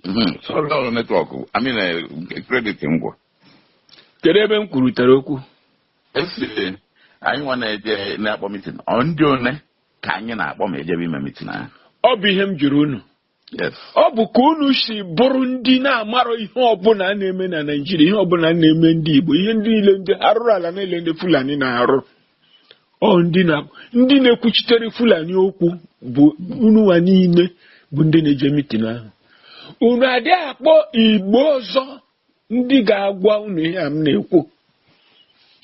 Mhm. Sorry, ọ bụ network I mean eh, nke credit ngwa kedu ebe m kwurutere okwu esi anyị nwa na-eje na-akpọ mitin ọ ndị one ka anyị na-akpọ ma ejebe ime mitin ahụ ọ bụ ihe m jụrụ unu yes ọ bụ ka unu si bụrụ ndị na-amarọ ihe ọbụla a na-eme na Naịjirịa ihe ọbụla a na-eme ndị Igbo ihe ndị niile ndị arụrụ ala niile ndị Fulani na-arụ ọ ndị na ndị na-ekwuchitere fulani okwu bụ unu nwa niile bụ ndị na-eje mitin ahụ unu adị akpọ igbo ọzọ ndị ga-agwa unu ihe a m na-ekwu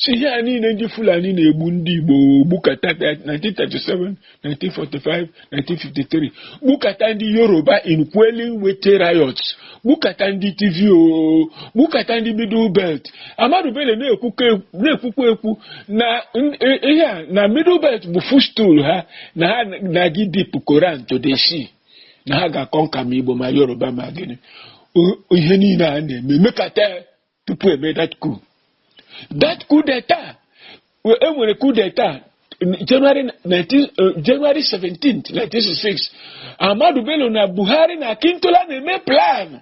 si ihe a niile ndị fulani na-egbu ndị igbo gbukata 1937 1945 1953 gbukata ndị yoruba in quelling wetie riots gbukata ndị tiv o gbukata ndị middle belt ahmadu bello na-ekwukwa na-ekwukwa ekwu na n- i- ihe a na middle belt bụ footstool ha na ha na-aga ịdip koran to the sea na ha ga-akọnka ma igbo ma yoruba ma gịnị O- ihe niile a na-eme mekata ya tupu e mee that coup that coup d'etat e nwere coup d'etat January 19, uh, January 17 1966 Ahmadu Bello na Buhari na Akintola na-eme plan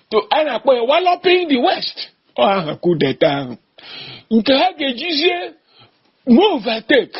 to a na-akpọ ya walloping the west ọ aha coup d'etat ahụ nke ha ga-ejizie move take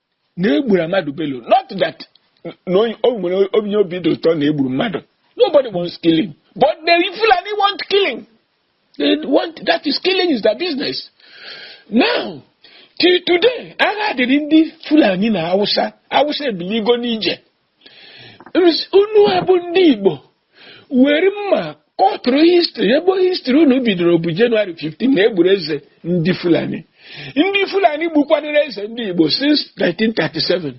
na egburu Ahmadu Bello not that na onye- o nwere onye obi dị ụtọ na egburu mmadụ nobody wants killing but the Fulani want killing they want that is killing is their business now till today agha dịrị ndị Fulani na Hausa Hausa ebiligo n'ije unu abụ ndị Igbo were mma kọtụrụ history ebe history unu bidoro bụ January 15 na egburu eze ndị Fulani ndị Fulani gbukwanụrụ eze ndị Igbo since 1937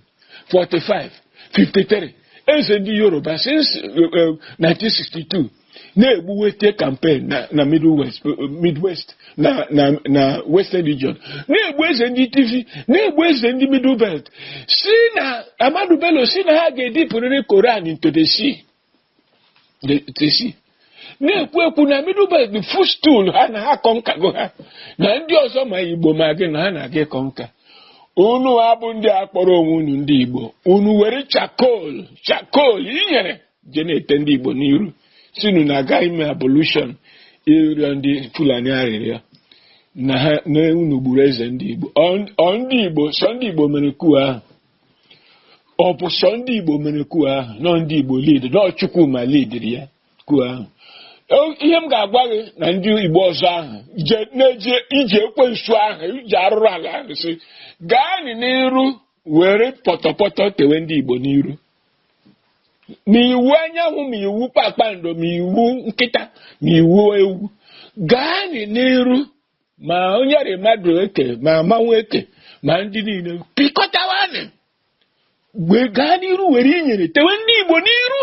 45 53 eze ndị Yoruba since 1962 eh, eh, na-egbu Wetie campaign na na Middle West Midwest na na na Western Region na-egbu eze ndị Tiv na-egbu eze ndị Middle Belt si na Ahmadu Bello si na ha ga-edipụrịrị Koran into the sea the- the sea. na-ekwu ekwu na Middle Belt bụ footstool ha na ha kọnkago ha na ndị ọzọ ma Igbo ma gịnị na ha na-aga ịkọnka unu abụ ndị a kpọrọ onwe unu ndị Igbo unu were charcoal charcoal inyere je na-ete ndị Igbo n'iru si unu na-aga ime ablution ịrịọ ndị Fulani arịrịọ na ha na unu gburu eze ndị Igbo ọ ndị Igbo sọ ndị Igbo mere coup ahụ ọ bụ sọ ndị Igbo mere coup ahụ na ọ ndị Igbo lead na ọ Chukwuma lidiri ya coup ahụ ihe m ga-agwa gị na ndị Igbo ọzọ ahụ na-eje ije ekwensu ahụ ije arụrụ ala ahụ si gaanị n'iru were pọtọpọtọ tewe ndị Igbo n'iru ma Iwuanyanwụ ma iwu kpakpando ma iwu nkịta ma iwu ewu gaa n'iru ma onye rị mmadụ eke ma mmanwụ eke ma ndị niile pịkọtawanị gaa n'iru were inyere tewe ndị Igbo n'iru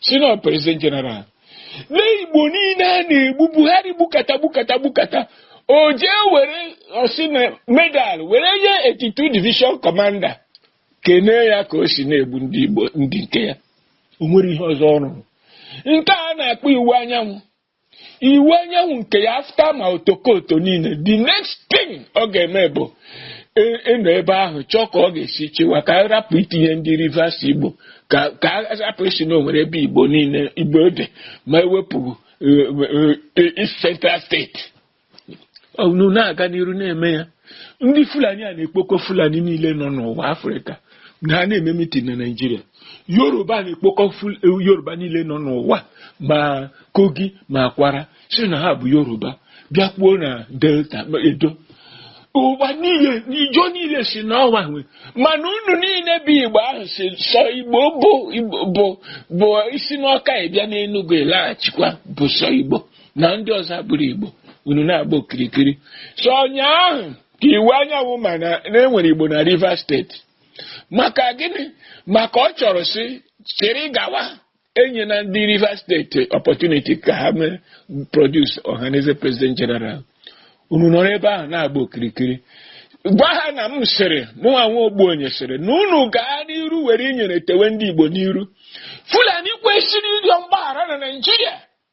sị na president general na igbo niile a na-egbu buhari gbukata gbukata gbukata o jee were ọsị na medal were nye 82 division commander kenee ya ka o si na-egbu ndị igbo ndị nke ya o nwere ihe ọzọ ọ rụrụ nke a na-akpọ Iwuanyanwụ Iwuanyanwụ nke ya after ma otokoto niile the next thing ọ ga-eme bụ ị- ịnọ ebe ahụ chọọ ka ọ ga-esi chịwa ka a rapụ itinye ndị rivers igbo ka ka a rapụ ịsị na o nwere ebe igbo niile igbo dị ma e wepụ eh, eh, eh, East central state unu na-aga n'iru na-eme ya ndị fulani a na-ekpokọ fulani niile nọ n'ụwa afrịka na ha na-eme mitin na naijiria yoruba na-ekpokọ yoruba niile nọ n'ụwa ma kogi ma kwara sị na ha bụ yoruba bịakwuo na delta edo ụwa niile ijo niile sị na ọ wa nwe mana unu niile bụ igbo ahụ sị sọ igbo bụ bụ i si n'ọka ị bịa n'enugwu ị laghachikwa bụ sọ igbo na ndị ọzọ abụrọ Igbo unu na-agba okirikiri sọ ụnyaahụ ka Iwuanyanwụ ma na e nwere Igbo na Rivers State maka gịnị maka ọ chọrọ si chịrị gawa enyena ndị Rivers State opportunity ka ha mee produce Ohanaeze president general unu nọrọ ebe ahụ na-agba okirikiri gwa ha na m sịrị mụnwa nwa ogbenye sịrị na unu gaa n'iru were inyere tewe ndị Igbo n'iru Fulani kwesịrị ịrịọ mgbaghara na Naịjirịa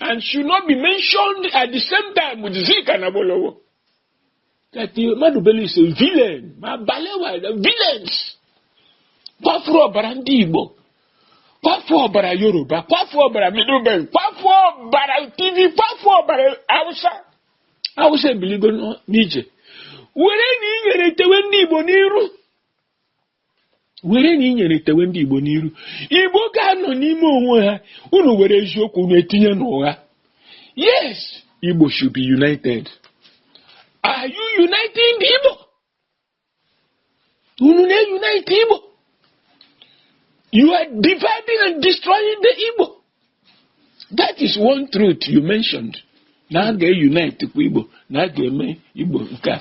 and should not be mentioned at the same time with Zik and Awolowo. That Ahmadu Bello is a villain. Ma Balewa, these are villains. Kwafuru ọbara ndị Igbo. Kwafuru ọbara Yoruba. Kwafuru ọbara Middle Belt. Kwafuru ọbara Tiv. Kwafuru ọbara Hausa. Hausa ebiligo n'ije. Werenị inyere tewe ndị Igbo n'iru. werenị inyere tewe ndị Igbo n'iru Igbo ga-anọ n'ime onwe ha unu were eziokwu unu etinye n'ụgha yes Igbo should be united are you uniting the Igbo unu na-unite Igbo you are dividing and destroying the Igbo that is one truth you mentioned na a ga-unite kwa Igbo na a ga-eme Igbo nke a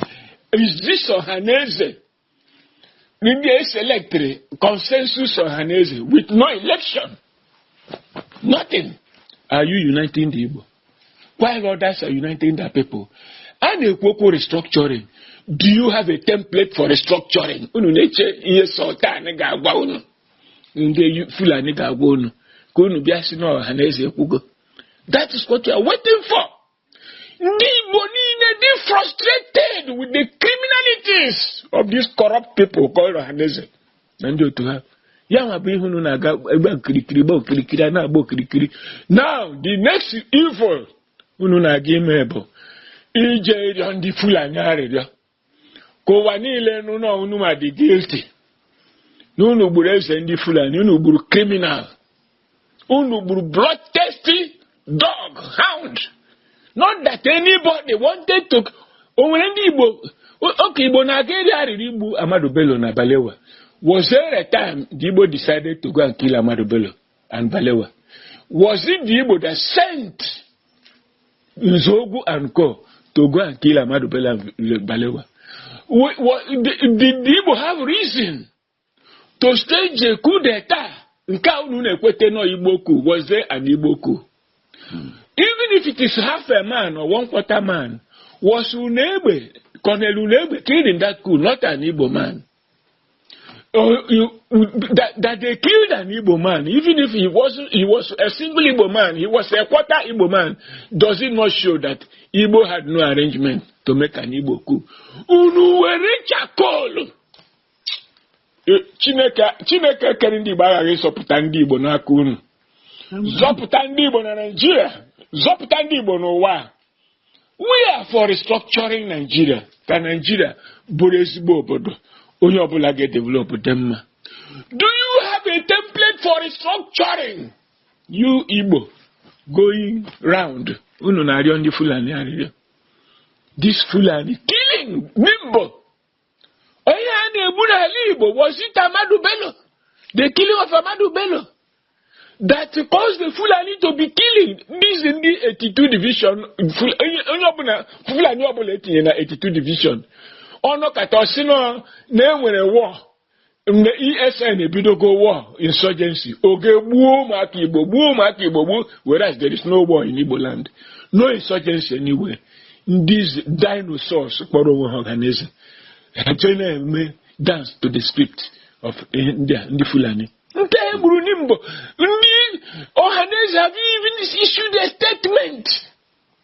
is this Ọhanaeze ndị eselectịrị consensus ọhaneze with no election nothing are you uniting the Igbo while others are uniting the people a na-ekwu okwu restructuring do you have a template for restructuring unu na-eche ihe sultan ga-agwa unu ndị Fulani ga-agwa unu ka unu bịa sị na ọhaneze ekwugo that is what you are waiting for Ndị Igbo niile dị frustrated with the criminalities of these corrupt people called Ohaneze na ndị otu ha. Ya nwa bụ ihe unu na-aga agba okirikiri gba okirikiri a na-agba okirikiri. Now the next evil unu na-aga ime bụ ije ịrịọ ndị Fulani arịrịọ. ka ụwa niile nụ na unu ma dị guilty na unu gburu eze ndị fulani unu gburu criminal unu gburu bloodthirsty dog hound not that anybody wanted to o nwere ndị igbo oge igbo na-aga eri arịrị igbu ahmadu bello na balewa was there a time the igbo decided to go and kill ahmadu bello and Balewa? Was it the Igbo that sent Nzogu and Co. to go and kill Amadu Bello Balewa? Did the Igbo have reason to stage a coup d'etat? Nke a unu na-ekwete nọ Igbo coup, was there an Igbo coup? Hmm. Even if it is half a man or one quarter man, was Unegbe, Colonel Unegbe killed in that coup, not an Igbo man? Oh, you, that, that they killed an Igbo man, even if he wasn't, he was a single Igbo man, he was a quarter Igbo man, does it not show that Igbo had no arrangement to make an Igbo coup? Unu were charcoal. Eh, Chineke Chineke kere ndị Igbo aghaghị ịzọpụta ndị Igbo n'aka unu. Zọpụta ndị Igbo na Nigeria, zọpụta ndị Igbo n'ụwa. we are for restructuring Nigeria ka Nigeria bụrụ ezigbo obodo onye ọbụla ga-edevelop dị mma do you have a template for restructuring you Igbo going round unu na-arịọ ndị Fulani arịrịọ this Fulani killing Nimbo onye a na-egbu n'ala Igbo was it Ahmadu Bello the killing of Ahmadu Bello that caused the Fulani to be killing these ndị 82 division Ful- onye onye ọbụla Fulani ọbụla e tinye na 82 division ọ nọkata ọ sị nọ na e nwere war mgbe ESN ebidogo war insurgency o jee gbuo ụmụaka Igbo gbuo ụmụaka Igbo gbuo whereas there is no war in Igbo land no insurgency anywhere ndị dinosaurs kpọrọ onwe ha ọhaneze ha na-eme dance to the script of eh, ndị Fulani ndị e gburu na Nimbo ndị ọhaneze have even issued a statement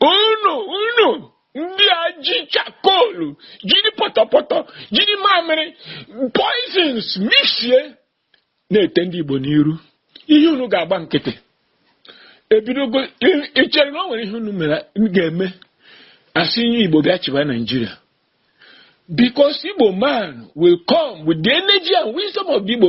unu unu ndị a ji charcoal jiri pọtọpọtọ jiri mamịrị poisons mixie na-ete ndị Igbo n'iru ihe unu ga-agba nkịtị ebidogo ị chere na o nwere ihe unu mere ga-eme a sị onye Igbo bịa chịba Nigeria because Igbo man will come with the energy and wisdom of the Igbo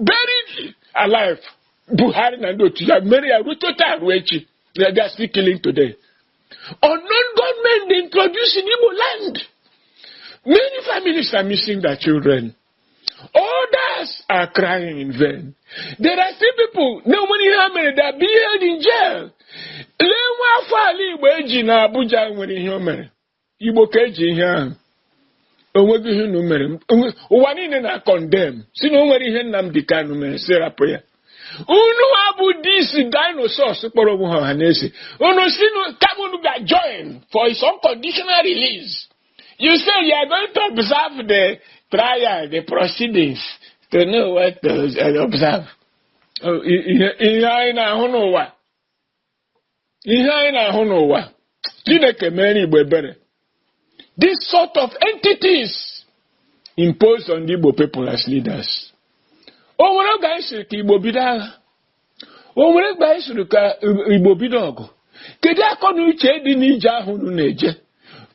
buried alive Buhari na ndị otu ya mere ya rute taa ruo echi na they are still killing today unknown gunmen they introduced in Igbo land many families are missing their children others are crying in vain there are still people na o nwere ihe ha mere they are being held in jail lee nwa afọ ala Igbo eji na Abuja nwere ihe o mere igbo ka eji ihe ahụ onweghị ihe unu mere ụwa niile na-acondemn si na o nwere ihe Nnamdi Kanu mere si rapụ ya unu a bụ these dinosaurs kpọrọ onwe ha Ohanaeze unu si kama unu ga join for his unconditional release you say you are going to observe the trial the proceedings to know what to observe ihe anyị na-ahụ n'ụwa ihe anyị na-ahụ n'ụwa chineke meere igbo ebere this sort of entities imposed on the igbo people as leaders o nwere oge anyị siri ka igbo bido agha o nwere oge anyị siri ka igbo bido ọgụ kedu akọ na uche dị n'ije ahụ unu na-eje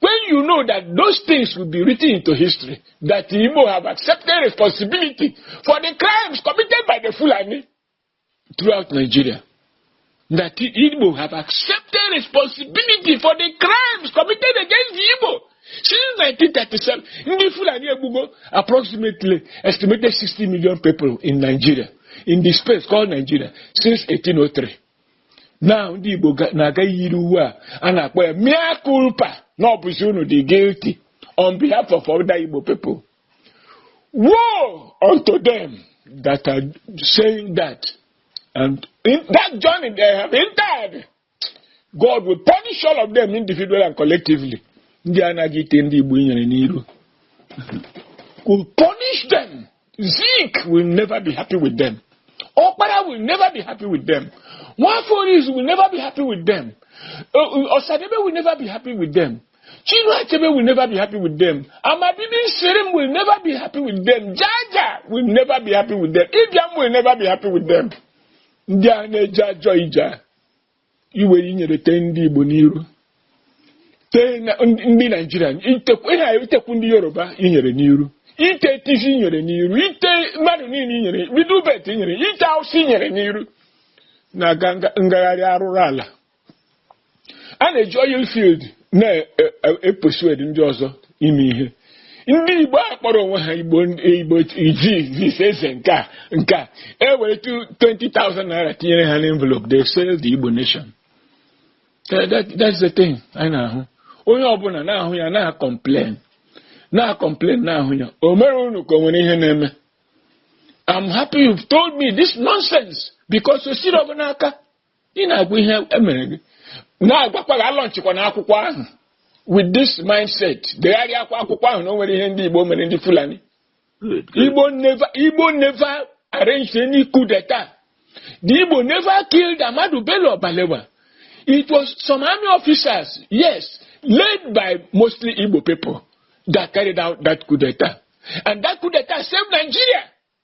when you know that those things will be written into history that igbo have accepted responsibility for the crimes committed by the fulani throughout Nigeria that the Igbo have accepted responsibility for the crimes committed against the Igbo since 1937. Ndị Fulani egbugo approximately estimated 60 million people in Nigeria in the space called Nigeria since 1803. Now ndị Igbo na-aga yiri uwe a a na-akpọ ya mea culpa na ọ bụzi unu dị guilty on behalf of other Igbo people. Woe unto them that are saying that. And in that journey they have entered, God will punish all of them individually and collectively. Ndị anaghị ite ndị Igbo nyere n'iru. Will punish them. Zeke will never be happy with them. Okpara will never be happy with them. Nwaforis will never be happy with them. Uh, uh, Osadebe will never be happy with them. Chinua Achebe will never be happy with them. Amabibi Shirim will never be happy with them. Jaja will never be happy with them. Ibiam will never be happy with them. Ndị a na-eje ajọ ije a, iwe inyere tee ndị Igbo n'iru. Tee na- ndị ndị Naijiria, itekwu ihe a itekwu ndị Yoruba inyere n'iru. Ite Tiv inyere n'iru. Ite mmadụ niile inyere, bido ubet inyere, ite awụsa inyere n'iru. Na-aga nga- ngagharị arụrụ ala. a na-eji oil field na-epersuade ndị ọzọ ime ihe ndị igbo a kpọrọ onwe ha igbo igbo iji zis eze nke a nke a e were 20,000 naira tinyere ha n'envelope they sell the igbo nation That- that- that's the thing anyị na-ahụ onye ọbụla na-ahụ ya na-acomplain na-acomplain na-ahụ ya o mere unu ka o nwere ihe na-eme I'm happy you've told me this nonsense because o siri ọ bụ n'aka ị na-agwa ihe emere gị na-agwakwa gị alọnchịkwana akwụkwọ ahụ with this mindset degharịa akwa akwụkwọ ahụ na o nwere ihe ndị Igbo mere ndị Fulani Igbo never Igbo never arranged any coup d'etat the Igbo never killed Ahmadu Bello Balewa it was some army officers yes led by mostly Igbo people that carried out that coup d'etat and that coup d'etat saved Nigeria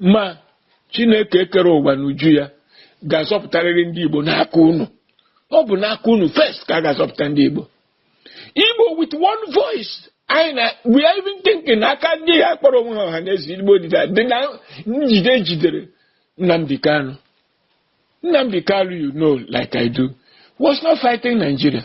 ma chineke kere ụwa n'uju ya ga-azọpụtarịrị ndị igbo n'aka unu ọ bụ n'aka unu first ka a ga-azọpụta ndị igbo igbo with one voice anyị na we are even thinking na aka ndị a kpọrọ onwe ha Ọhanaeze igbo dịda dị na njide e jidere Nnamdi Kanu Nnamdi Kanu you know like I do was not fighting Nigeria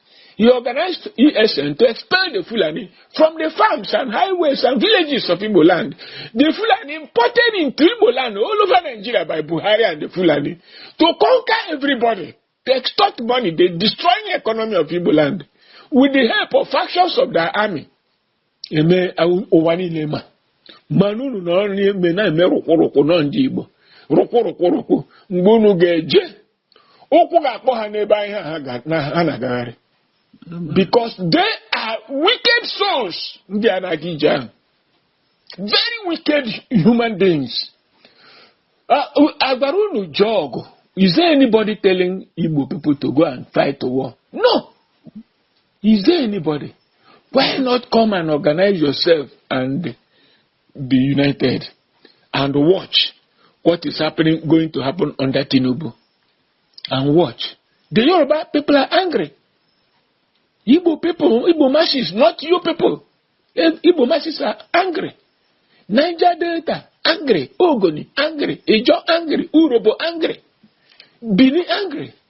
He organized ESN to expel the Fulani from the farms and highways and villages of Igbo land. The Fulani imported into Igbo land all over Nigeria by Buhari and the Fulani to conquer everybody, to extort money, they destroy the economy of Igbo land with the help of factions of their army. Eme ụwa niile ma mana unu nọrọ na-eme na-eme rụkwụrụkwụ nọ ndị Igbo rụkwụrụkwụrụkwụ mgbe unu ga-eje ụkwụ ga-akpọ ha n'ebe ahụ ha ga- na- ha na-agagharị because they are wicked souls ndị a na-aga ije ahụ very wicked human beings Ah, u- a gwara unu jee ọgụ is there anybody telling igbo people to go and fight the war no is there anybody why not come and organize yourself and be united and watch what is happening going to happen under Tinubu and watch the Yoruba people are angry Igbo people Igbo masses not you people eh, Igbo masses are angry Niger Delta angry Ogoni angry Ijo angry Urobo angry Bini angry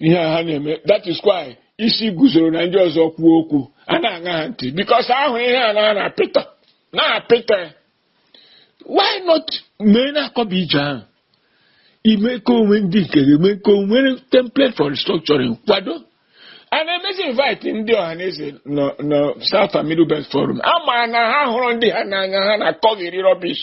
ihe a ha na-eme that is why Isiguzoro na ndị ọzọ kwuo okwu a na-aṅa ha ntị because ahụ ihe a na-ana apịtọ na-apịtọ ya why not mee na-akọba ije ahụ ime ka onwe ndị nke gị mee ka onwere template for restructuring kwado and emezie invite ndị Ọhanaeze nọ nọ South and Middle Belt Forum a ma na ha hụrụ ndị ha n'anya ha na-akọghịrị rubbish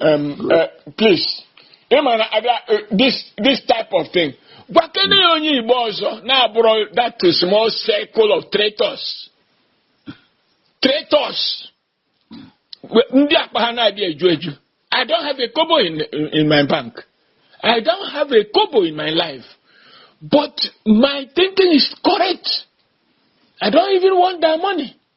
Um, uh, please ị ma na abịa uh, this this type of thing gwakene ya onye igbo ọzọ na-abụrọ that small circle of traitors traitors We- ndị akpa ha na-adị eju eju i don't have a kobo in, in my bank i don't have a kobo in my life but my thinking is correct i don't even want that money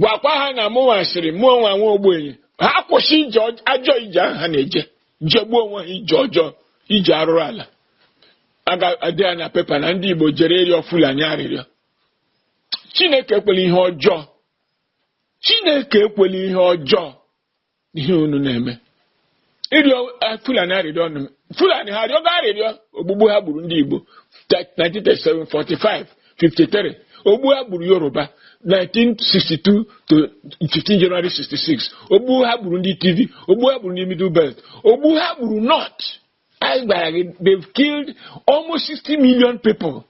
gwakwa ha na mụnwa sịrị mụnwa nwa ogbenye ha kwụsị ije ọj- ajọ ije ahụ ha na-eje jegbuo onwe ha ije ọjọọ ije arụrụ ala a ga-ede ya na pepa na ndị Igbo jere ịrịọ Fulani arịrịọ Chineke ekwela ihe ọjọọ Chineke ekwela ihe ọjọọ n'ihe unu na-eme ịrịọ eh, fulani arịrịọ nụ fulani ha arịọgo arịrịọ ogbugbu ha gburu ndị igbo 1937 45 53 ogbu ha gburu yoruba 1962 to 15 January 66 ogbu ha gburu ndị tiv ogbu ha gburu ndị middle belt ogbu ha gburu north anyị gwara gị they've killed almost 60 million people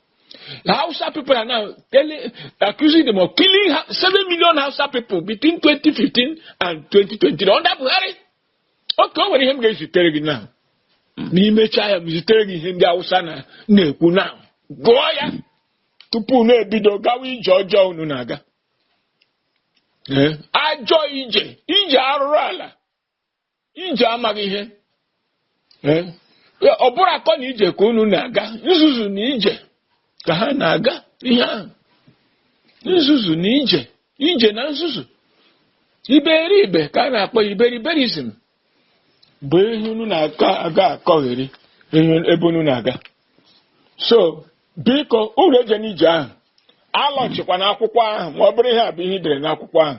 the Hausa people are now telling, accusing them of killing 7 million Hausa people between 2015 and 2020 under Buhari okay o nwere ihe m ga-ezitere gị now ma m mechaa ya m zitere gị ihe ndị Hausa na-ekwu now gụọ ya tupu unu ebido gawa ije ọjọọ unu na-aga ajọ ije ije arụrụ ala ije amaghị ihe Eh, ọ bụrọ akọ na ije ka unu na-aga nzuzu na ije ka ha na-aga ihe ahụ nzuzu na ije ije na nzuzu iberibe ka a na-akpọ ya iberiberizm bụ ihe unu na-aga akọgheri ebe unu na-aga so biko unu ejena ije ahụ alaunchikwana akwụkwọ ahụ ma ọ bụrụ ihe a bụ ihe i dere n'akwụkwọ ahụ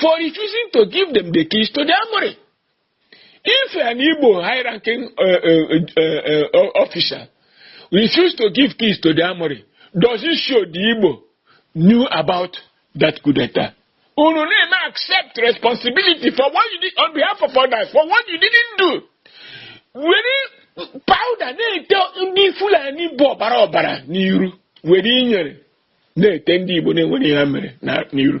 for refusing to give them the keys to the armory. If an Igbo high-ranking uh, uh, uh, uh officer refused to give keys to the armory, does it show the Igbo knew about that coup d'etat? Unu na-eme accept responsibility for what you did on behalf of others, for what you didn't do. Were powder na-ete ndị Fulani bụ ọbara ọbara n'iru were inyere na-ete ndị Igbo na-enwerọ ihe ha mere n'iru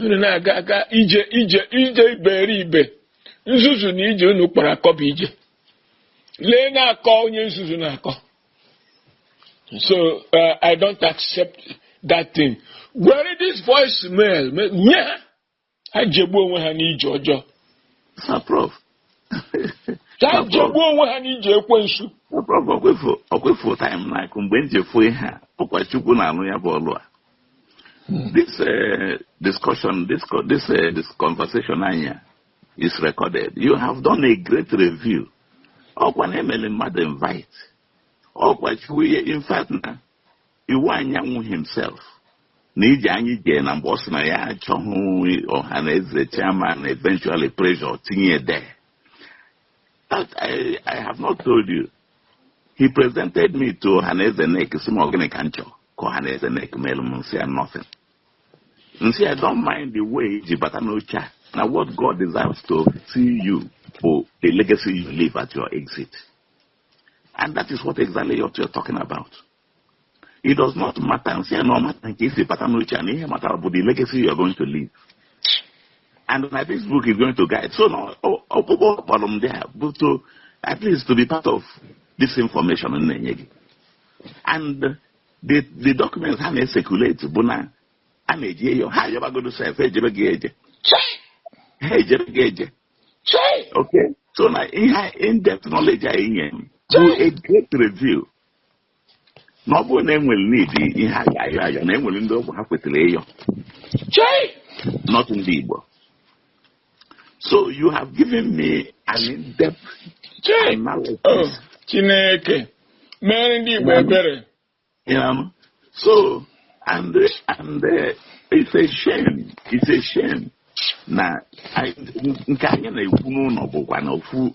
unu na-aga aga ije ije ije iberibe nzuzu na ije unu kpọrọ akọ bụ ije lee na akọ onye nzuzu na-akọ so uh, i don't accept that thing were this voice mail nye ha ha jegbuo onwe ha n'ije ọjọọ ka ha jegbuo onwe ha n'ije ekwensu ọkwa ị fụ time like mgbe m ji efu ihe a ọkwa chukwu na-alụ ya bụ ọlụ a hmm. this uh, discussion this, this, uh, this conversation anyị a is recorded you have done a great review ọkwa na emele mmadụ invite ọkwa chukwu in fact na Iwuanyanwụ himself na ije anyị jee na mgbe ọ sị na ya achọghị Ọhanaeze chairman eventually pressure tinye there but I, I have not told you he presented me to Ọhanaeze NEC sị m ọgịnị ka m chọ ka Ọhanaeze NEC melụ m m sị ya nothing m sị ya don't mind the way i ji bata n'oche a na what God desires to see you bụ the legacy you leave at your exit and that is what exactly what you're talking about it does not matter m sị ya na ọ mata nke i si bata n'oche a na ihe matara bụ the legacy you are going to leave and na this book is going to guide so na ọkpụkpọ ọ kpọrọ m there bụ to at least to be part of this information m na-enye gị and the the documents ha na-ecirculate bụ na a na-eje ịyọ ha ayọbagodo sef ejebeghị eje ha ejebeghị eje okay so na ihe in-depth knowledge a i nye m bụ a great review na ọ bụrụ na e nwere ndị ha ga-ayọ ayọ na e nwere ndị ọ bụ ha kwesịrị ịyọ chei not ndị Igbo so you have given me an in-depth chei analysis oh chineke mere ndị igbo ebere you know so and and uh, it's a shame it's a shame na anyị- nke anyị na-ekwu n'ụnọ bụkwa na ofu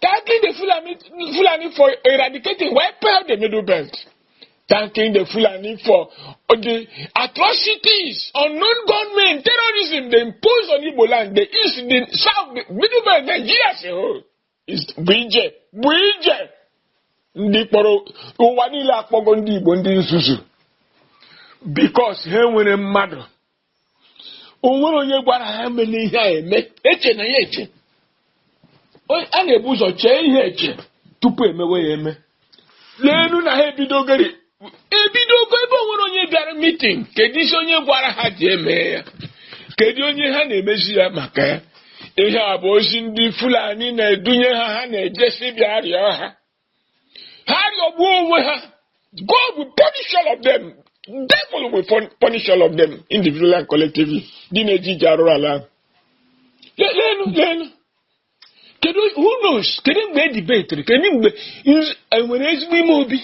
Thanking the Fulani for eradicating, wiping out the Middle Belt. Thanking the Fulani for the atrocities, unknown gunmen, terrorism they impose on Igbo land, the East, the South, the Middle Belt, Nigeria as a whole. Is Bije, Bije. Ndị kpọrọ ụwa niile akpọgo ndị Igbo ndị nzuzu. Because ha nwere mmadụ o nwere onye gwara ha menụ ihe a eme echena ya eche a na-ebu ụzọ chee ihe eche tupu emewe ya eme leenu na ha ebidogori ebidogo ebe o nwere onye bịara meeting kedu isi onye gwara ha ji eme ya kedu onye ha na-emezi ya maka ya ihe a bụ ozi ndị fulani na-edunye ha ha na-ejesi bịa rịọ ha ha rịọgbuo onwe ha God will punish all of them devil will punish all of them individually and collectively ndị na-eje ije arụrụ ala ahụ leenụ leenụ kedu who knows kedu mgbe e dibetiri kedu mgbe e nwere ezigbo ime obi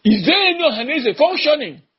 is there any ọhaneze functioning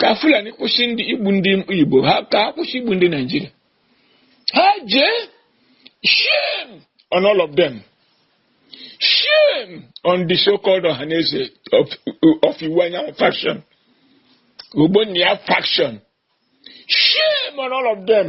ka fulani kwụsị igbu ndị igbo ka ha kwụsị igbu ndị nigeria ha jee shame on all of them shame on the so-called ọhaneze of iwuanyanwụ faction ogbonnia faction shame on all of them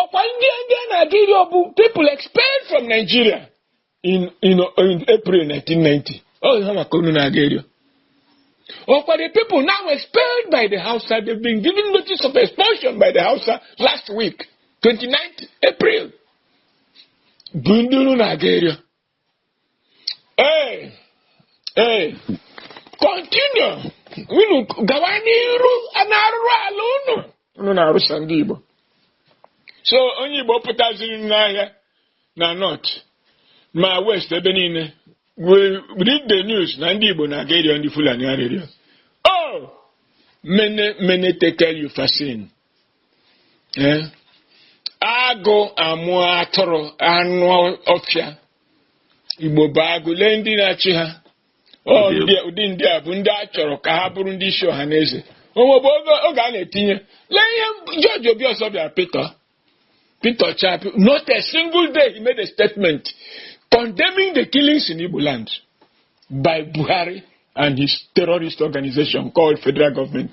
ọkwa ndị ndị a na-aga ịrịọ bụ people expelled from Nigeria in, in, in April 1990 ọ ha ka unu na-aga ịrịọ ọkwa the people now expelled by the Hausa they've been given notice of expulsion by the Hausa last week 29th April bụ ndị unu na-aga ịrịọ Ee, ee, continue. Unu gawa n'iru n'arụrụ ala unu. Unu na-arụsa ndị Igbo. So onye Igbo pụtaziri n'ahịa na North ma West ebe niile we read the news na ndị Igbo na-aga ịrịọ ndị Fulani arịrịọ. Oh! Mene, mene, tekel, upharsin. Ee, agụ amụ atụrụ anụ ọfịa igbo bụ agụ lee ndị na-achị ha ụdị ndị a bụ ndị a chọrọ ka ha bụrụ ndị isi Ọhanaeze o nwebu oge a na-etinye lee ihe George Obiozor bịara pete pete chapi not a single day he made a statement condemning the killings in igbo land by buhari and his terrorist organization called federal government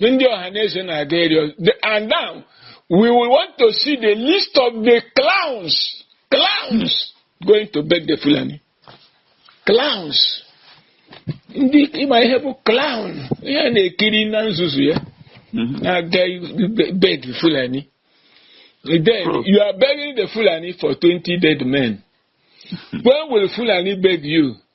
Ndị Ohaneze na-aga ịrịọ. And now, we will want to see the list of the clowns, clowns going to beg the Fulani. Clowns. Unu ma ihe bụ clown, ihe a na-ekiri na nzuzu ya, na-aga be- beg the Fulani. Then you are begging the Fulani for 20 dead men. When will Fulani beg you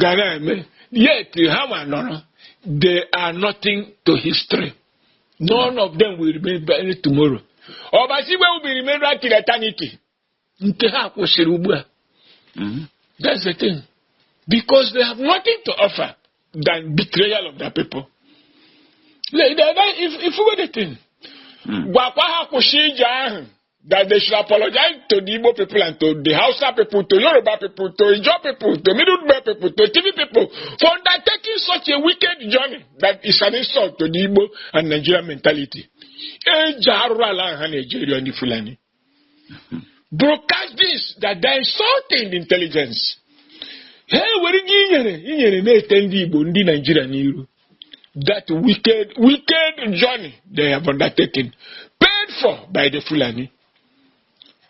ga na-eme yet ha ma nọrọ they are nothing to history none of them will be remembered tomorrow Obasi Igwe will be remembered till eternity nke ha kwụsịrị ugbu a mm-hmm. that's the thing because they have nothing to offer than betrayal of their people if, if you go the thing hmm. gwakwa ha kwụsị ije ahụ that they should apologize to the Igbo people and to the Hausa people, to Yoruba people, to Ijo people, to Middle Belt people, to TV people for undertaking such a wicked journey that is an insult to the Igbo and Nigerian mentality. Broadcast this that they're insulting the intelligence. Hey, were gị inyere inyere na-ete ndị Igbo ndị Naijiria n'iru that wicked, wicked journey they have undertaken, paid for by the Fulani.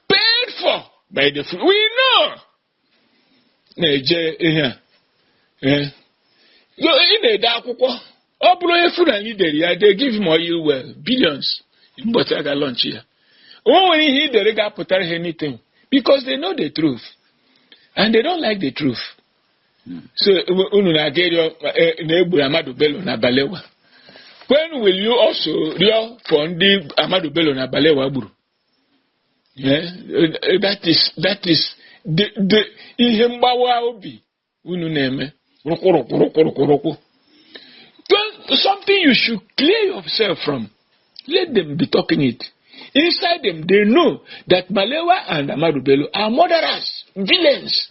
Paid for by the Fulani. We know. Na-eje ihe a. Eh. Yo, Ị na-ede akwụkwọ. Ọ bụrụ onye Fulani dere ya, they give him oil well, billions. Mbọchị a ga-launch ya. O nwere ihe ị dere ga-apụtara ha anything because they know the truth and they don't like the truth. so unu na-aga ịrịọ na e gburu Ahmadu Bello na Balewa when will you also rịọ for ndị Ahmadu Bello na Balewa gburu that is that is the ihe mgbawa obi unu na-eme rụkwụrụkwụrụkwụrụkwụrụkwụ something you should clear yourself from let them be talking it inside them they know that Balewa and Ahmadu Bello are murderers villains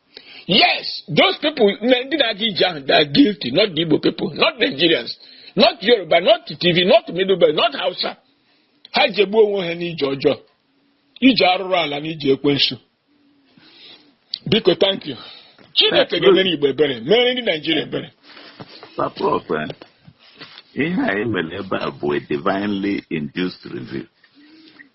Yes, those people, ndị na-aga ije ahụ, they are guilty, not the Igbo people, not Nigerians, not Yoruba, not Tiv, not Middle Belt, not Hausa. Ha jegbu onwe ha n'ije ọjọọ, ije arụrụ ala na ije ekwensu. Biko, thank you. Chineke ga-emere Igbo ebere, mere ndị Nigeria ebere. Prof, ihe anyị mere ebe a bụ a divinely induced review.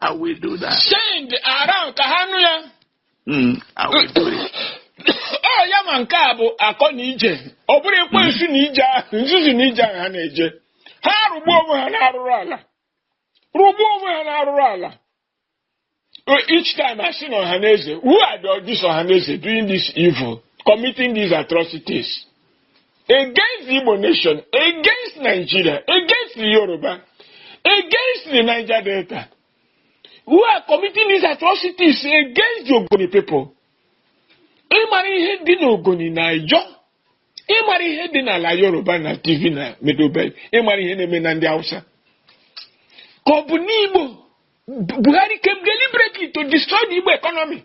I will do that. send around ka ha nụ ya Mm, I will do it. ọ ya ma nke bụ akọ n'ije ọ bụrụ ekwensu n'ije ahụ nzuzu n'ije ahụ ha na-eje ha rụgbuo onwe ha n'arụrụ ala rụgbuo onwe ha n'arụrụ ala Uh, each time I see Ohaneze, who are the, this Ohaneze doing this evil, committing these atrocities? against the Igbo nation, against Nigeria, against the Yoruba, against the Niger Delta, who are committing these atrocities against the Ogoni people. Ị mara ihe dị n'Ogoni na Ijọ ị mara ihe dị n'ala Yoruba na Tiv na Middle Belt ị mara ihe na-eme na ndị Hausa ka ọ bụ n'Igbo Buhari came deliberately to destroy the Igbo economy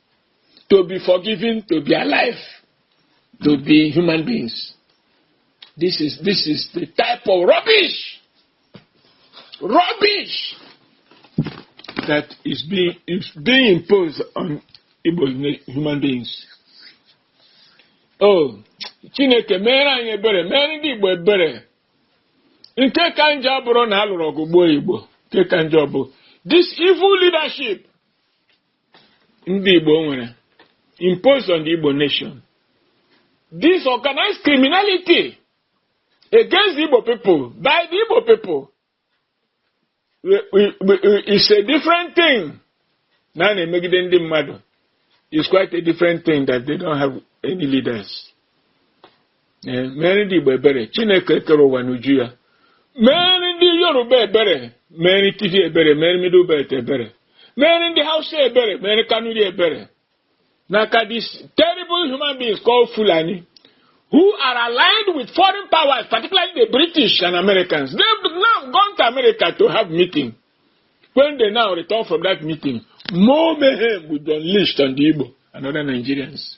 to be forgiven, to be alive, to be human beings. This is this is the type of rubbish, rubbish that is being is being imposed on Igbo human beings. Oh, Chineke mere anyị ebere, mere ndị Igbo ebere. Nke ka njọ abụrọ na a lụrụ ọgụ gbuo Igbo, nke ka njọ bụ this evil leadership ndị Igbo nwere imposed on the Igbo nation this organized criminality against the Igbo people by the Igbo people is a different thing na a na-emegide ndị mmadụ is quite a different thing that they don't have any leaders Ee, meere ndị Igbo ebere Chineke kere ụwa n'uju ya meere ndị Yoruba ebere meere Tiv ebere meere Middle Belt ebere meere ndị Hausa ebere meere Kanuri ebere n'aka these terrible human beings called Fulani who are aligned with foreign powers particularly the British and Americans they've now gone to America to have meeting when they now return from that meeting more mayhem will be unleashed on the Igbo and other Nigerians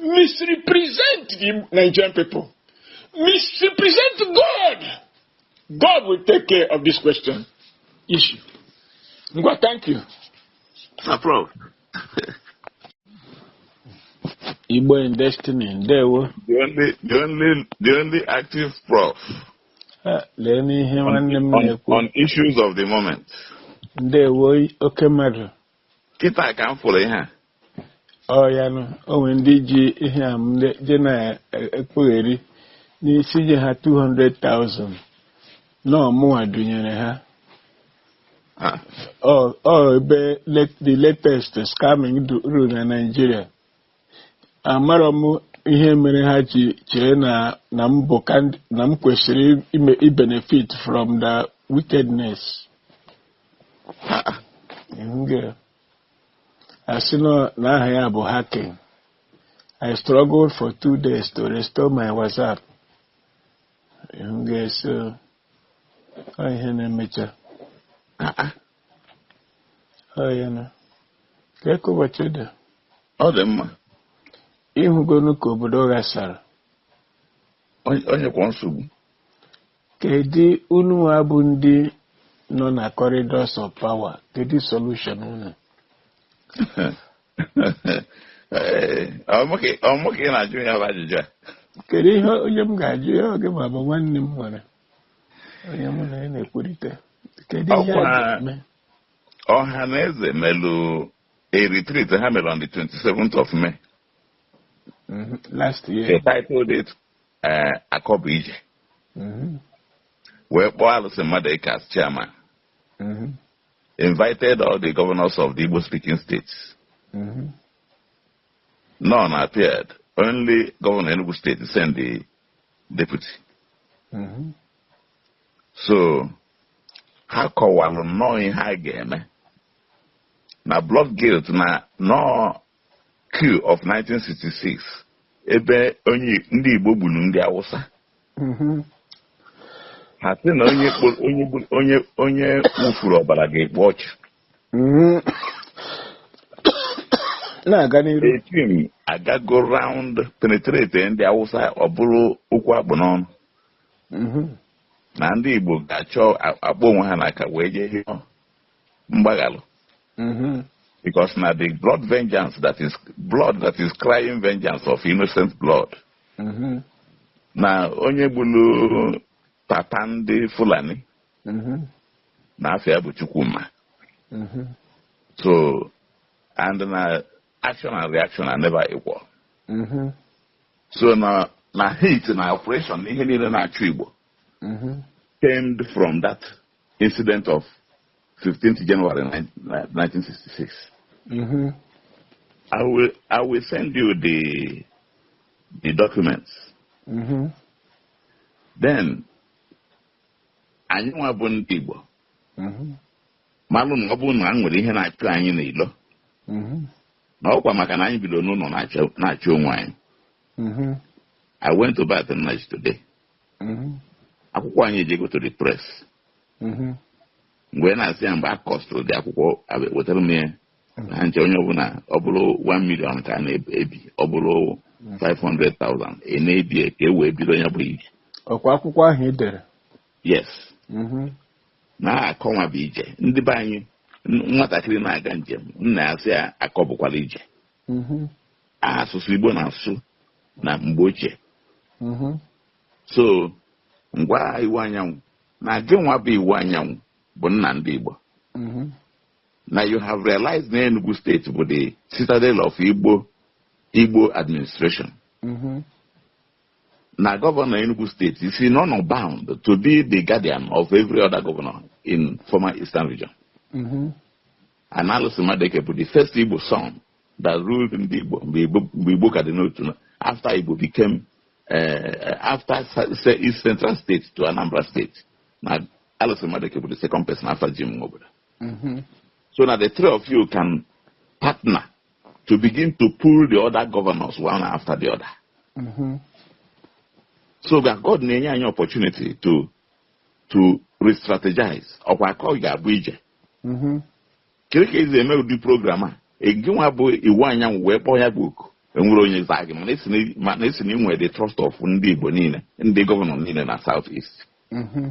misrepresent the Nigerian people, misrepresent God. God will take care of this question issue. Ngwa, thank you. No problem. Igbo in destiny, ndewo. The only, the only, the only active prof. Ah, lee n'ihe nwanne m na-ekwu. On issues of the moment. Ndewo oke mmadụ. kịta ka m fụrụ ihe a ọ ya nụ o nwere ndị ji ihe a m le- je na-ekwugheri na m sị nye ha 200,000 na ọ mụnwa dunyere ha Ah, ọ ọ ebe let- the latest scamming du- rule na Nigeria amarọ m ihe mere ha ji chee na na m bụ kandi- na m kwesịrị ime ibenefit from the wickedness Mhm. a sị nọ na aha ya bụ hacking I struggled for two days to restore my WhatsApp Mhm, so ọ ihe na-emecha Ọ ya na ka eke ụbọchị dị ọ dị mma ịhụgonu ka obodo ghasara Onye- onye kwa nsogbu kedu unu nwa bụ ndị nọ na corridors of power kedu solution unu Ee, ọ mụ ka- ọ mụ ka ị na-ajụ ya bụ ajụjụ a kedu ihe onye m ga-ajụ ya ọ gị nwa bụ nwanne m nwere onye mụ na ya na-ekwurịta kedu ihe Ọkwa- a ga-eme Ọhanaeze melụ a retreat ha mere on the 27th of May Mhm. last year they titled it eh, Akọ bụ Ije Mhm. wee kpọọ Allison Madueke as chairman Mhm. invited all the governors of the Igbo speaking states Mhm. none appeared only governor Enugu state sent the deputy Mhm. so ha kọwalụ nnọọ ihe a ga-eme na blood guilt na nọ coup of 1966 ebe onye ndị igbo gburu ndị awụsa Mhm. ha sị na onye kpo- onye gburu- onye onye wụfuru ọbara ga-ekpu ọchụ Mm. na-aga n'iru the thing agago round penetrate ndị awụsa ọ bụrụ okwu a kpụ n'ọnụ Mhm. na ndị igbo ga-achọ a- akpọ onwe ha n'aka wee jee hịọ mgbaghalụ Mhm. because na the blood vengeance that is blood that is crying vengeance of innocent blood Mhm. na onye gbulu papa ndị fulani na afa ya bụ Chukwuma so and na action and reaction are never equal so na na hate na oppression na ihe niile na-achụ Igbo stemmed from that incident of 15th January 1966 I will I will send you the the documents. Mm-hmm. Then anyị nwa bụ ndị Igbo mhm. malụ na ọ bụrụ na a nwere ihe na-achụ anyị n'ilo mhm. na ọkwa maka na anyị bido n'ụnọ na-achụ onwe anyị mhm. I went to Barth Nnaji today akwụkwọ anyị ejego to the press mgbe na-asị ya mgbe a costụrụ the akwụkwọ wetara m ya ha nche onye ọbụla ọ bụrụ 1 million ka a na-ebi ọ bụrụ 500,000 ị na-ebi ya ka e wee bido ya bụ ije ọkwa akwụkwọ ahụ ị dere yes Mhm. na akọ nwa bụ ije ndị be anyị n- nwatakịrị na-aga njem nna ya sị ya akọ bụkwala ije Mhm. asụsụ igbo na-asụ na mgbe ochie Mhm. so m gwa Iwuanyanwu na gị nwa bụ Iwuanyanwu bụ nna ndị igbo Mhm. na you have realized na Enugu steeti bụ the citadel of Igbo administration mm-hmm. na gọvanọ Enugu steeti is honour bound to be the guardian of every other governor in former eastern region mm-hmm. and Alison Madueke bụ the first Igbo son that ruled ndị Igbo mgbe Igbo ka dị n'otu after Igbo became uh, after East Central State to Anambra State na Alison Madueke bụ the second person after Jim Nwobodo Mm-hmm. So na the three of you can partner to begin to pull the other governors one after the other. Mm-hmm. So that God na-enye anyị opportunity to to re-strategize ọkwa akọ ga-abụ ije. Mm-hmm. Kirie ka esi eme ụdị program a gị nwa bụ Iwuanyanwu wee kpọọ ya bụ oku enwere onye zaa gị mana esi na- mana esi na inwe the trust of ndị Igbo niile ndị gọvanọ niile na South East. Mm-hmm.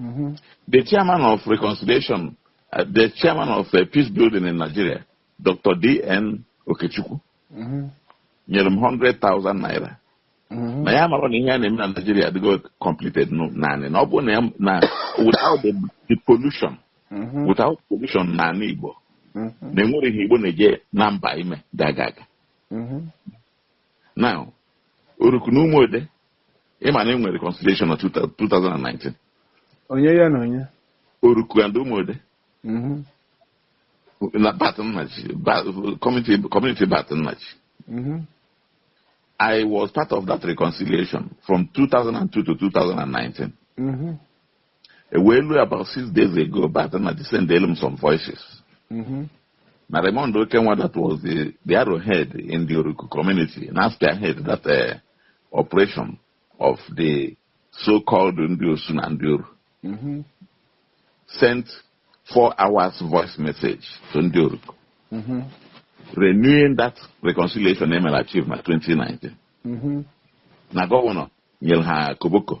Mm-hmm. The chairman of reconciliation, uh, the chairman of uh, peace building in Nigeria, Dr. D.N. Okechukwu, mm-hmm. nyere m 100,000 naira. Mm-hmm. na ya mara na ihe a na-eme na Nigeria adịgo completed naanị na ọ bụ na na without the, the abolition mm-hmm. without abolition n'ala Igbo mm-hmm. na enwere ihe Igbo na-eje na mba ime ga-aga aga now Oruku na Umuode Ị ma na e nwere reconciliation na 2019. Onye ya na onye? Oruku and Umuode. Mm-hmm. Na Barth Nnaji, community, community Barth Nnaji. Mm-hmm. I was part of that reconciliation from 2002 to 2019. Mm-hmm. E wee lue about six days ago Barth Nnaji sendelụ m some voices. Mhm. Na Raymond Okenwa that was the, the arrowhead in the Oruku community na-spearhead that uh, operation of the so-called ndị Osu na ndị Oru Mhm. sent four hours voice message to ndị Oruku Mhm. renewing that reconciliation emere achieve na 2019. Mhm. na gọvanọ nyere ha koboko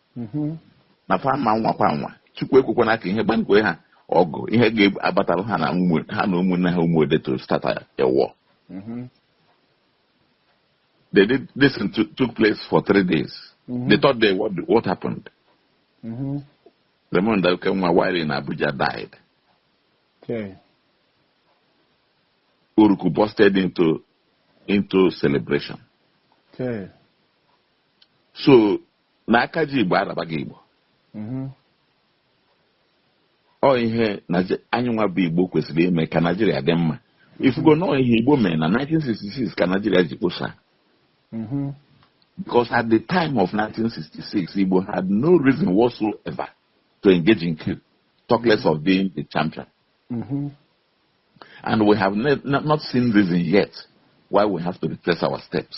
mhm. na fa ma nwa kwa nwa chukwu ekwekwana ka ihe gbankwe ha ọgụ ihe ga-abatara ha na ụmụnne ha Umuode to start a war mhm. they did this took place for three days mm -hmm. the third day what, what happened mm -hmm. Raymond Okenwa while in Abuja died okay. Oruku busted into into celebration okay. so na aka ji igbo arabaghị igbo mhm. ọ ihe anyị nwa bụ igbo kwesịrị ime ka naijiria dị mma ị fụgo na ọ ihe igbo mere na 1966 ka naijiria ji kposa mhm. because at the time of 1966 igbo had no reason whatsoever to engage in coup talk less of being the champion mhm. and we have not seen reason yet why we have to retrace our steps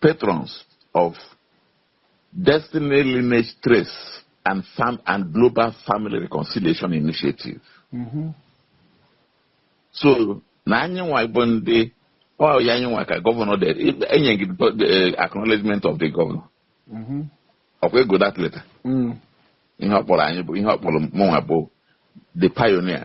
patrons of Destiny Lineage Trace and, Fam and Global Family Reconciliation Initiative. Mm -hmm. So, na anyị nwa bụ ndị ọ anyị nwa ka gọvanọ dere enye gị eh, acknowledgement of the governor. Mm -hmm. ọkwa ego that letter mm. ihe ọ kpọrọ anyị bụ ihe ọ kpọrọ mụnwa bụ the pioneer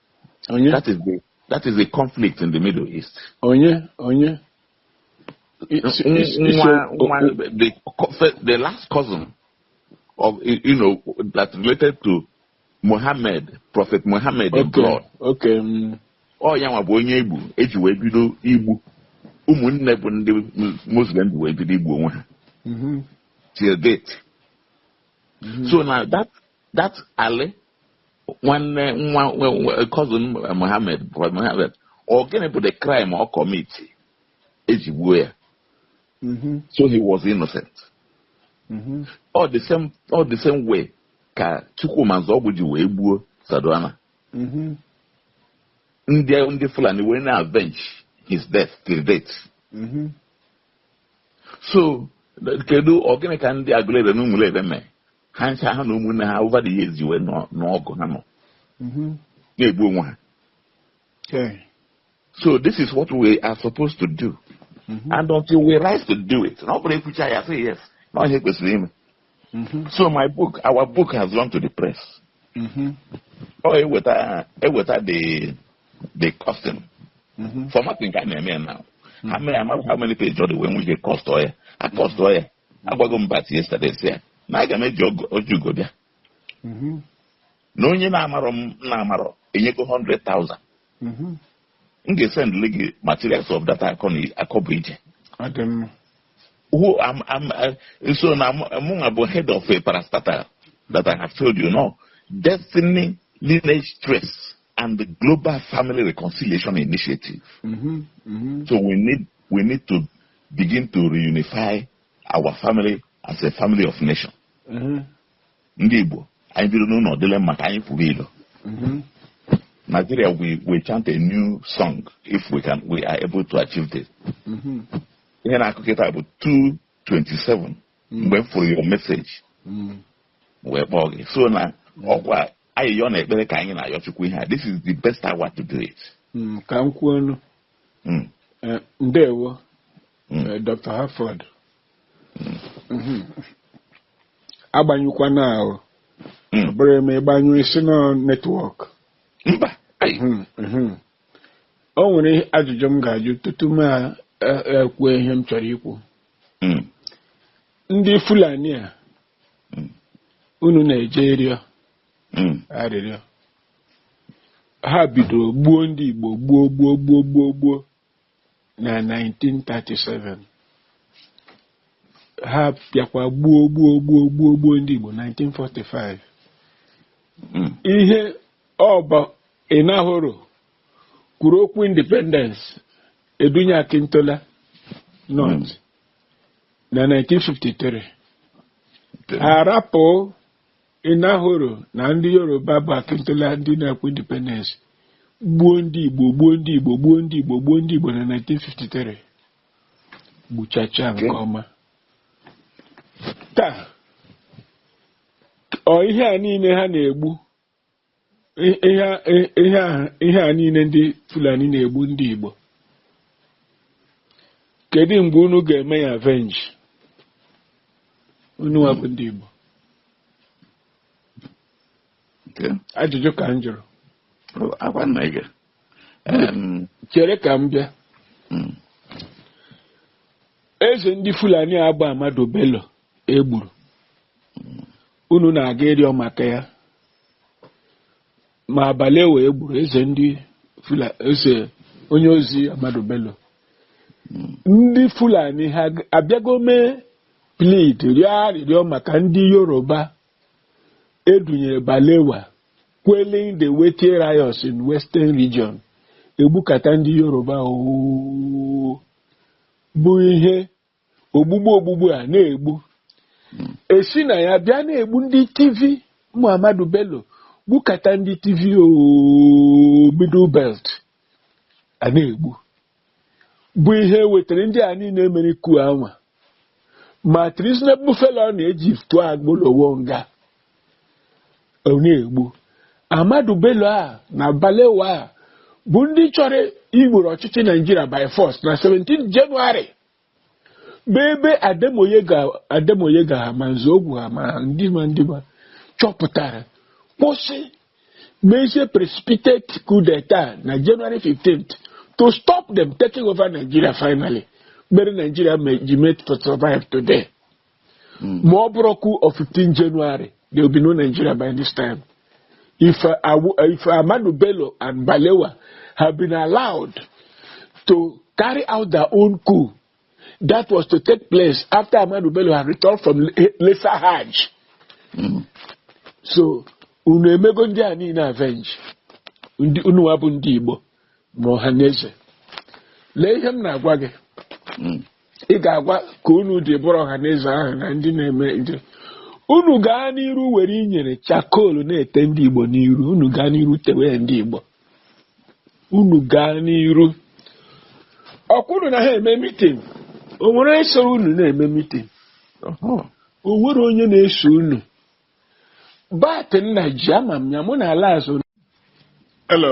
onye That is the that is the conflict in the Middle East. onye onye I- si- N- isi- isi- nwa- o- nwa- o- the co- fe- the last cousin of y- you know that related to Muhammad, Prophet Muhammad in okay blood. okay mm, Ọ ya nwa bụ onye egburu eji wee bido igbu ụmụnne bụ ndị Mus- Muslim ji wee bido igbu onwe ha mhm, till date. mhm. So now that that Ali nwanne nwa cousin Mohammed Mohammed ọ gịnị bụ the crime ọ kọmiti eji gbuo ya mm-hmm. so he was innocent mm-hmm. ọ the same ọ the same way ka Chukwuma Nzeogwu ji wee gbuo Sardauna mm-hmm. ndị ndị Fulani wee na-avenge his death till date so kedu ọ gịnị ka ndị Agụleri na Ụmụleri mee ha ncha ha na ụmụnne ha over the years ji wee nọ- n'ọgụ ha nọ Mhm. na-egbu onwe ha Okay. so this is what we are supposed to do Mhm. and until we rise to do it na ọ bụrụ ekwucha ya say yes na ọ ihe e kwesịrị ime Mhm. so my book our book has gone to the press Mhm. ọ eweta eweta the the costing Mhm. formatting ka a na-eme ya now how many how many page ọ dị wee nwee ike cost ọ ya a cost ọ ya agwago m bat yesterday sị ya na aga m eji ogo- ọjị ugo bịa Mhm. na onye na-amarọ m na-amarọ enyego 100,000 Mhm. m ga-esendịli gị materials of data akọ na akọ bụ ije Ọ dị mma. who I am uh, so na mụnwa bụ head of a parastatal that I have told you now destiny lineage trace and the global family reconciliation initiative Mhm. Mhm. so we need we need to begin to reunify our family as a family of nation mhm, ndị igbo anyị biri n'ụlọ dịlị mma ka anyị kwuru ilo mhm, nigeria we, we chant a new song if we can we are able to achieve this mhm, ihe na-akụ kịta bụ 227 mgbe m fụrụ your message mhm. wee kpọọ gị so na ọkwa ayịyọ na ekpere ka anyị na-ayọ chukwu ihe a this is the best hour to do it Mm, ka m kwuo ọnụ Mm. Eh, ndewo Mm. eh, dr harford Mhm. agbanyụkwana o Mm. ọ bụrụ e mee ị gbanyụọ ị sị na ọ network mba ai, Mhm, mhm. o nwere ihe- ajụjụ m ga-ajụ tutu m a- a- ekwuo ihe m chọrọ ikwu mm, ndị fulani a Mm. unu na-eje ịrịọ mm, arịrịọ ha bidoro gbuo ndị Igbo gbuo gbuo gbuo gbuo gbuo na 1937 ha bịakwa gbuo gbuo gbuo gbuo gbuo ndị Igbo 1945 hmm. ihe ọ bụ Enahoro kwuru okwu independence e dunye Akintola North hmm. na 1953 a rapụ Enahoro na ndị Yoruba bụ Akintola ndị na-ekwu independence gbuo ndị Igbo gbuo ndị Igbo gbuo ndị Igbo gbuo ndị Igbo na 1953 gbuchacha nke ọma taa ọ ihe a niile ha na-egbu I- ihe a- i- ihe a- ihe a niile ndị fulani na-egbu ndị igbo kedu mgbe unu ga-eme ya avenge unu nwa bụ ndị igbo Okay. ajụjụ ka m jụrụ Oh, akwa nna gị. Em, chere ka m bịa mm, eze ndị fulani agba Ahmadu Bello e gburu unu na-aga ịrịọ maka ya ma Balewa e gburu eze ndị fula eze onye ozi Ahmadu Bello ndị Fulani ha abịago mee plead rịọ arịrịọ maka ndị Yoruba edunyere Balewa quelling the Wetie riots in Western Region e gbukata ndị Yoruba ọ bụ ihe ogbugbu ogbugbu a na-egbu e si na ya bịa na-egbu ndị Tiv ma Amadu Bello gbukata ndị Tiv ooo Middle Belt a na-egbu bụ ihe wetara ndị a niile mere coup anwa ma treasonable felony e ji tụọ Awolowo nga Ọ na-egbu Amadu Bello a na Balewa a bụ ndị chọrọ igboro ọchịchị Nigeria by force na 17 January bụ ebe Ademoyega ha ma Nzeogwu ha ma ndị ma ndị ma chọpụtara kwụsị mezie precipitate coup d'etat na January 15th to stop them taking over Nigeria finally mere Nigeria ji mee to survive today. ma ọ bụrọ coup of 15 January there will be no Nigeria by this time if, uh, Awu- uh, if Amadu Bello and Balewa have been allowed to carry out their own coup that was to take place after Amadu Bello had returned from Le- Lesser Hajj so unu emego ndị a niile avenge unu wa bụ ndị Igbo ma Ọhanaeze lee ihe m na-agwa gị ị ga-agwa ka unu dị bụrụ Ọhanaeze ahụ na ndị na-eme nje unu gaa n'iru were inyere charcoal na-ete ndị Igbo n'iru unu gaa n'iru tewe ndị Igbo unu gaa n'iru ọ kwa unu na ha eme meeting o nwere onye so unu na-eme meeting o nwere onye na-eso unu but nna ji ama m ya mụ na ala azụ Hello.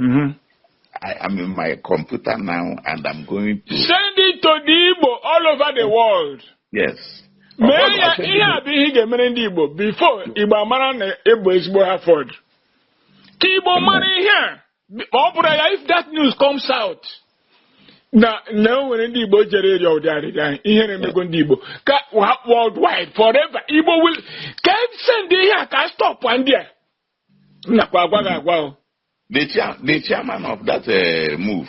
Mm-hmm. I am in my computer now and I'm going to. Send it to the Igbo all over the world. Yes. mee ya ihe a bụ ihe ị ga-emere ndị Igbo before Igbo amara na ị bụ ezigbo Harvard ka Igbo mara ihe a ma ọ bụrọ ya if that news comes out na na o nwere ndị Igbo jere ịrịọ ụdị arịrịọ ahụ ihere emego ndị Igbo ka worldwide forever Igbo will ka e send ihe a ka stop ndị a m nakwa agwa gị agwa o The, chair, the chairman of that uh, move,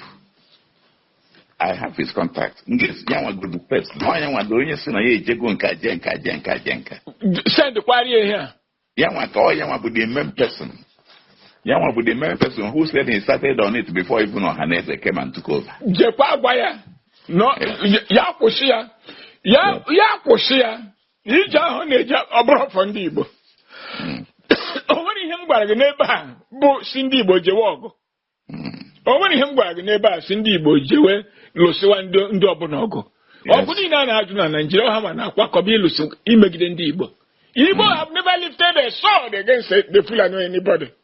I have his contact. Yes, Yanwa bụ the first. No, Yanwa bụ onye sị na ya ejego nka je nka je nka je nka. send kwari ihe a Yanwa ka ọ Yanwa bụ the main person. Yanwa bụ the main person who said he started on it before even Ohaneze came and took over. jekwa agwa ya no ya kwụsị ya ya ya kwụsị ya na ije ahụ ọ na-eje ọ bụrọ for ndị Igbo Mm. o nwere ihe m gwara gị n'ebe a bụ sị ndị Igbo jewe ọgụ Mm. o nwere ihe m gwara gị n'ebe a sị ndị Igbo jewe lụsịwa ndị ndị ọbụla ọgụ Yes. ọgụ niile a na-alụ na Nigeria ọ hanwa na-akwakọba ịlụsị imegide ndị Igbo Igbo have never lifted a sword against the Fulani or anybody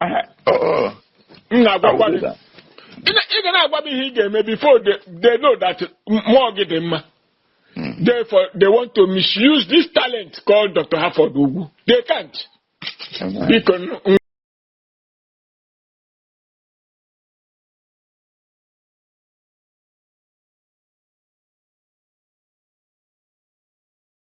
Aha, ọ, ọ, m na-agwakwa gị Awụdịda. ị na- ị ga na-agwa m ihe ị ga-eme before they, they know that mmụọ gị dị mma Mm. therefore they want to misuse this talent called Dr. Harford Ugwu they can't Amen. biko n- n-